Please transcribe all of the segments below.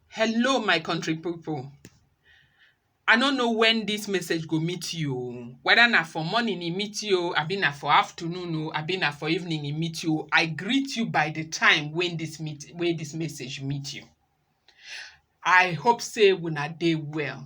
Hello my country pipu, I no know wen dis message go meet you o, weda na for morning e meet you o abi na for afternoon o abi na for evening e meet you o, I greet you by di time wey dis meet wey dis message meet you. I hope sey una dey well,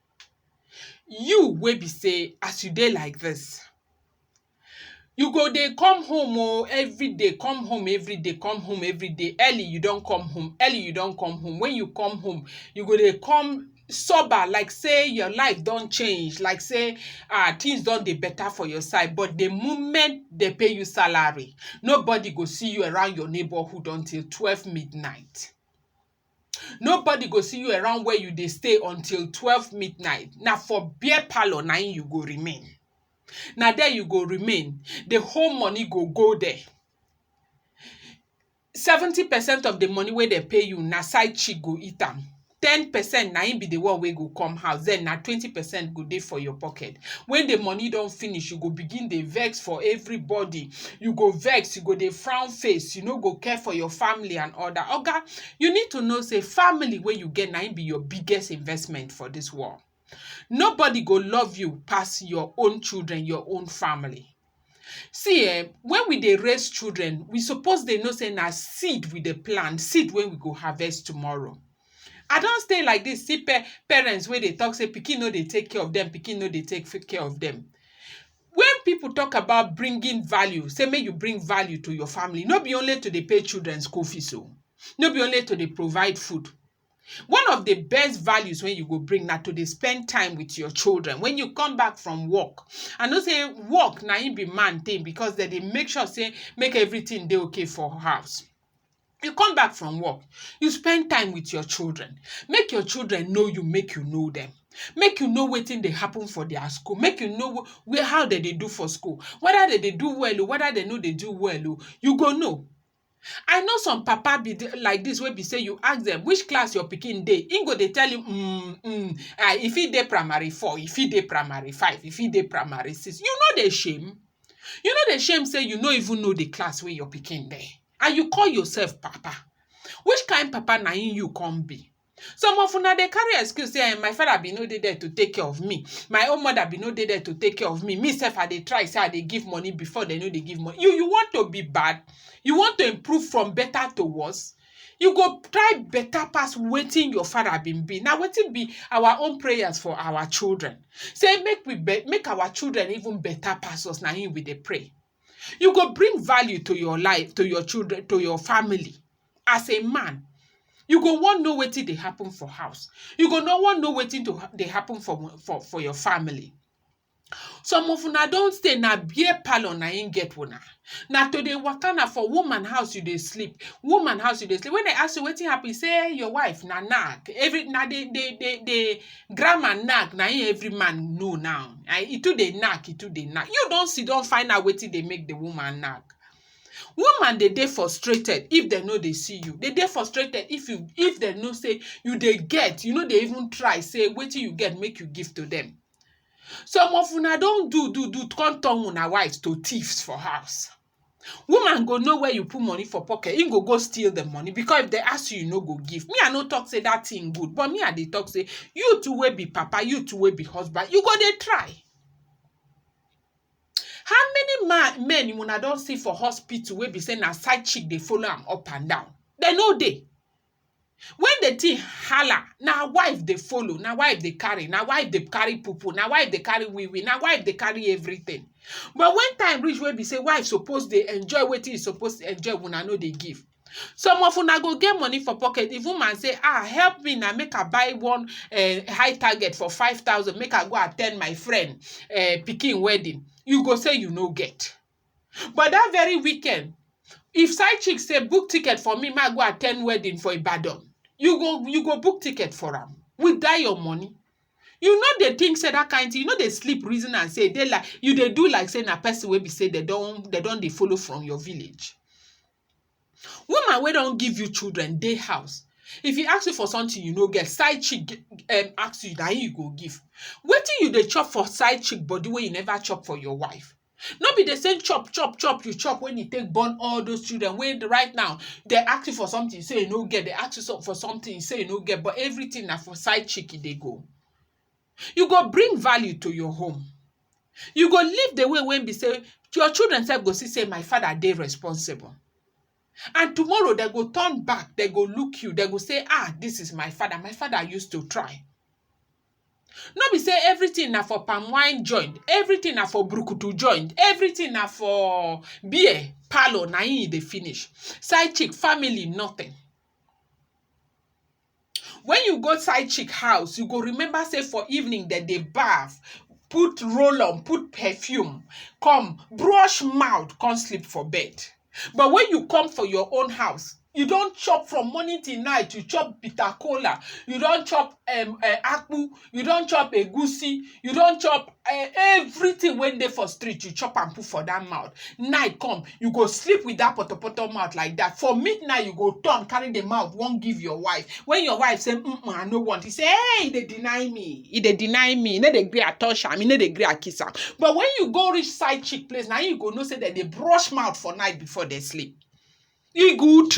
You wey be sey as you dey like dis, you go dey come home oh, everyday come home everyday, come home everyday, early you don come home, early you don come home, wen you come home you go dey come sober like sey your life don change, like sey um tins don dey beta for your side but di moment dem pay you salary nobody go see you around your neighbourhood until twelve midnight. Nobody go see you around where you dey stay until twelve midnight. Na for beer parlour na im you go remain. Na there you go remain, the whole money go go there. Seventy percent of the money wey dem pay you na side chick go eat am. Ten percent na im be the one wey go come house, then na twenty percent go dey for your pocket. When the money don finish, you go begin dey vex for everybody. you go vex, you go dey frown face, you no go care for your family and all that. Oga, you need to know say family wey you get na im be your biggest investment for this world. Nobody go love you pass your own children, your own family. See eh, when we dey raise children, we suppose dey know say na seed we dey plant, seed wey we go harvest tomorrow. I don stay like this, see pa parents wey dey talk say pikin no dey take care of them, pikin no dey take care of them. Wen pipu talk about bringing value, sey make you bring value to your family, no be only to dey pay children school fees oh, no be only to dey provide food. One of de best values wey you go bring na to dey spend time wit your children. Wen you come back from work, I know sey work na im be man thing because dem dey make sure sey make everything dey okay for house. you come back from work you spend time with your children make your children know you make you know them make you know wetin dey happen for their school make you know wh- where how dem dey do for school whether dem dey do well o whether dem no dey do well o you go know i know some papa be the- like this wey be say you ask them which class your pikin dey im go dey tell you mm, mm, ah, e fit dey primary four e fit dey primary five e fit dey primary six you no dey shame You no dey shame sey you no even know de class wey your pikin dey and you call yourself papa. Which kain papa na im you come be? Some of una dey carry excuse sey um my father be no dey there to take care of me, my own mother be no dey there to take care of me, me sef I dey try sey I dey give money before dey no dey give money. You you want to be bad? You want to improve from better to worse? You go try better pass wetin your father been be. Now wetin be our own prayers for our children. Say make we be, make our children even better pass us. Now him we dey pray. You go bring value to your life, to your children, to your family as a man. You go wan know wetin dey happen for house. You go no wan know wetin to ha- dey happen for for for your family. Some of una don stay na beer parlour na im get una. Na to dey waka na for woman house you dey sleep, woman house you dey sleep. When dem ask you wetin happen, you say your wife na nag. Every na the the the the grammar nag na im every man know now. um E too dey nag, e too dey nag. You don sit down find out wetin dey make the woman nag? Woman dey dey frustrated if dem no dey see you, dey dey frustrated if you if dem know sey you dey get, you no dey even try sey wetin you get make you give to dem. Some of una don do do do come turn una wives to thieves for house. Woman go know where you put money for pocket, im go go steal the money because if dem ask you, you no go give. Me, I no talk say that thing good, but me, I dey talk say you too wey be papa, you too wey be husband, you go dey try. How many man men una don see for hospital wey be say na side chick dey follow am up and down? Dem no dey. When the thing hala, na wife dey follow, na wife dey carry, na wife dey carry pupu, na wife dey carry wee wee, na wife dey carry everything. But when time reach wey be sey wife suppose dey enjoy wetin e suppose enjoy, una no dey give. Some of una go get money for pocket, the woman say ha help me na make I buy one um high target for five thousand make I go at ten d my friend um pikin wedding. You go say you no get. But that very weekend, if side chick say book ticket for me, ma go attend wedding for Ibadan, you go you go book ticket for am with that your money. You no dey think say that kind thing, you no dey sleep reason and say dey like you dey do like say na person wey be say they don they don dey follow from your village. Woman wey don give you children dey house. If he ask you for something you no get, side chick g- um, ask you, na him you go give. Wetin you dey chop for side chick body wey you never chop for your wife? No be the same chop chop chop you chop when you take born all those children wey right now dem ask you for something you say you no get, dem ask you for something you say you no get but everything na for side chick e dey go. You go bring value to your home, you go live the way wey be sey your children self go see sey my father dey responsible and tomorrow dem go turn back dem go look you dem go sey um this is my father, my father use to try. No be sey everything na for palm wine joint, everything na for brukutu joint, everything na for beer parlour na im e dey finish. Side chick family nothing. When you go side chick house, you go remember sey for evening dem dey bath, put roll-on, put perfume, come brush mouth come sleep for bed. But when you come for your own house, you don't chop from morning till night. You chop bitter cola. You don't chop um, uh, akpu. You don't chop egusi. You don't chop uh, everything when they for street. You chop and put for that mouth. Night come, you go sleep with that potopoto mouth like that. For midnight, you go turn, carry the mouth, won't give your wife. When your wife say, mm I no want, he say, hey, they deny me. e dey deny me e no dey gree I touch am e no dey gree I kiss am but when you go reach side chick place na you go know say dem dey brush mouth for night before dem sleep e good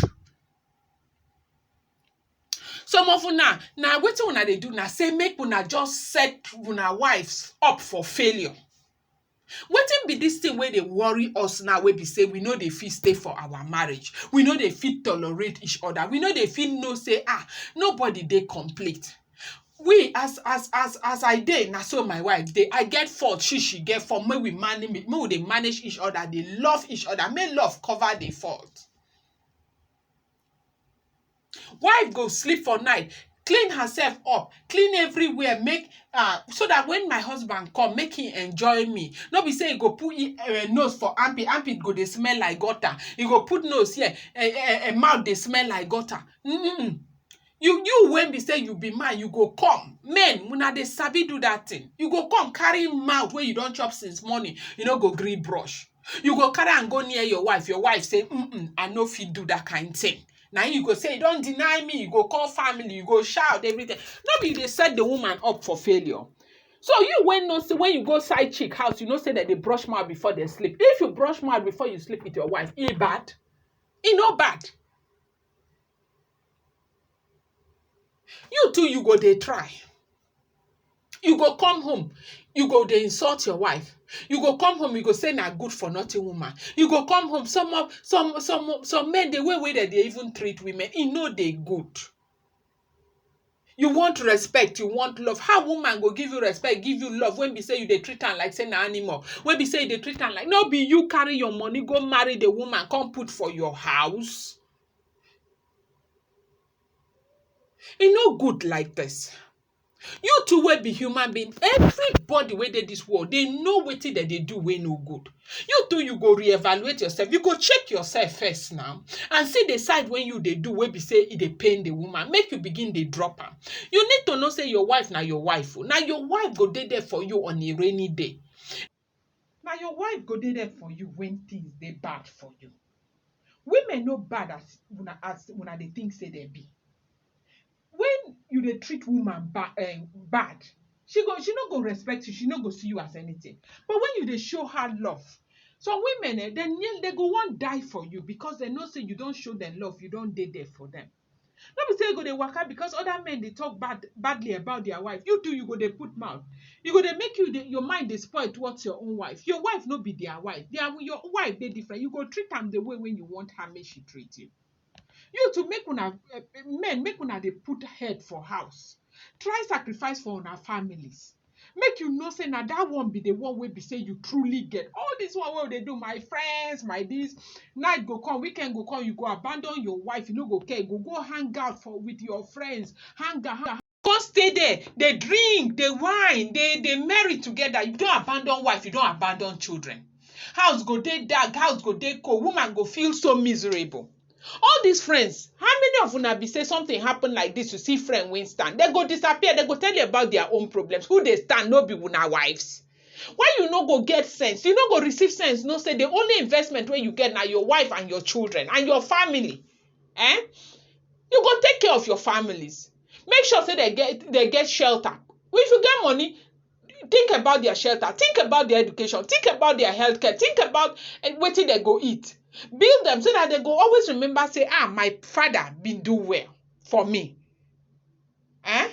some of una na wetin una dey do na say make una just set una wives up for failure Wetin be dis tin wey dey worry us now wey be sey we no dey fit stay for our marriage, we no dey fit tolerate each oda, we no dey fit know sey um nobody dey complete. We as as as as I dey na so my wife dey, I get fault she she get fault make we make we dey manage each oda dey love each oda make love cover di fault. Wife go sleep for night, clean herself up, clean everywhere make um so dat wen my husband come make e enjoy me, no be sey e go put e um nose for armpit, armpit go dey smell like gutter, e go put nose here um mouth dey smell like gutter um you you wey be sey you be man you go come, men una dey sabi do dat tin, you go come carry mouth wey you don chop since morning you no go gree brush. You go carry am go near your wife, your wife say um I no fit do dat kain thing. Na im you go say you don deny me, you go call family, you go shout everything. No be you dey set de woman up for failure. So you wey know sey when you go side chick house, you know sey dem dey brush mouth before dem sleep. If you brush mouth before you sleep with your wife, e bad? E no bad. You too you go dey try, you go come home you go dey insult your wife, you go come home you go sey na good for nothing woman, you go come home some of some some some men dey way wey dem dey even treat women e no dey good. You want respect, you want love, how woman go give you respect, give you love wey be sey you dey treat am like sey na animal, wey be sey you dey treat am like no be you carry your money go marry de woman come put for your house. E no good like this. You too wey be human being, everybody wey dey this world, they know wetin dem dey do wey no good. You too, you go reevaluate yourself. You go check yourself first now and see the side wey you dey do wey be say e dey pain the woman. Make you begin dey drop am. You need to know say your wife na your wife o. Na your wife go dey there for you on a rainy day. Na your wife go dey there for you when things dey bad for you. Women no bad as una as una dey think say dem be. When you dey treat woman ba um bad, she go she no go respect you, she no go see you as anything. But when you dey show her love, some women um dem nearly dem go wan die for you because dem know say you don show dem love, you don dey there for dem. No be sey you go dey waka because other men dey talk bad badly about their wife, you too you go dey put mouth. E go dey make you dey your mind dey spoil towards your own wife. Your wife no be their wife. Their your wife dey different. You go treat am the way wey you want am make she treat you. You too make una um men make una dey put head for house. Try sacrifice for una families. make you know sey na dat one be the one wey be sey you truly get. All dis one wey we dey do, my friends, my dis, night go come, weekend go come, you go abandon your wife, you no go care, you go go hang out for with your friends, hang out, hang out, con stay there, dey drink, dey wine, dey dey merry together, you don abandon wife, you don abandon children. House go dey dark, house go dey cold, woman go feel so miserable. all these friends how many of una be say something happen like this you see friend wey stand they go disappear they go tell you about their own problems who dey stand no be una wives why you no go get sense you no go receive sense know say the only investment wey you get na your wife and your children and your family eh you go take care of your families make sure say they get they get shelter if you get money think about their shelter think about their education think about their healthcare think about eh, wetin dem go eat build them so that they go always remember say ah my father bin do well for me eh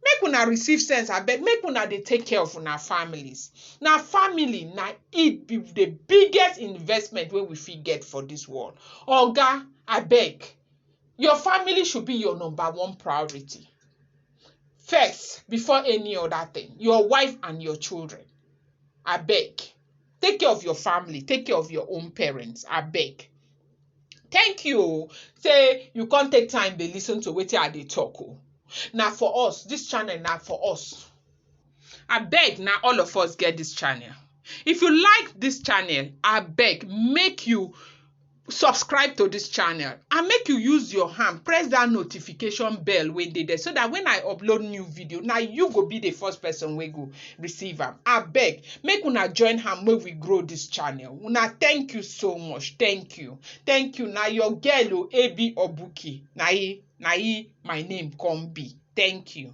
make una receive sense abeg make una dey take care of una families na family na it be the biggest investment wey we fit get for this world oga abeg your family should be your number one priority first before any other thing your wife and your children abeg take care of your family take care of your own parents abeg thank you o say you come take time dey listen to wetin i dey talk o na for us this channel na for us Abeg na all of us get dis channel. If you like dis channel, abeg make you subscribe to dis channel and make you use your hand press dat notification bell wey dey there so dat when I upload new video, na you go be the first person wey go receive am. Abeg make una join hand make we grow dis channel. Una thank you so much. Thank you. Thank you. Na your girl o, Abi Obuki. Na im na im my name come be. Thank you.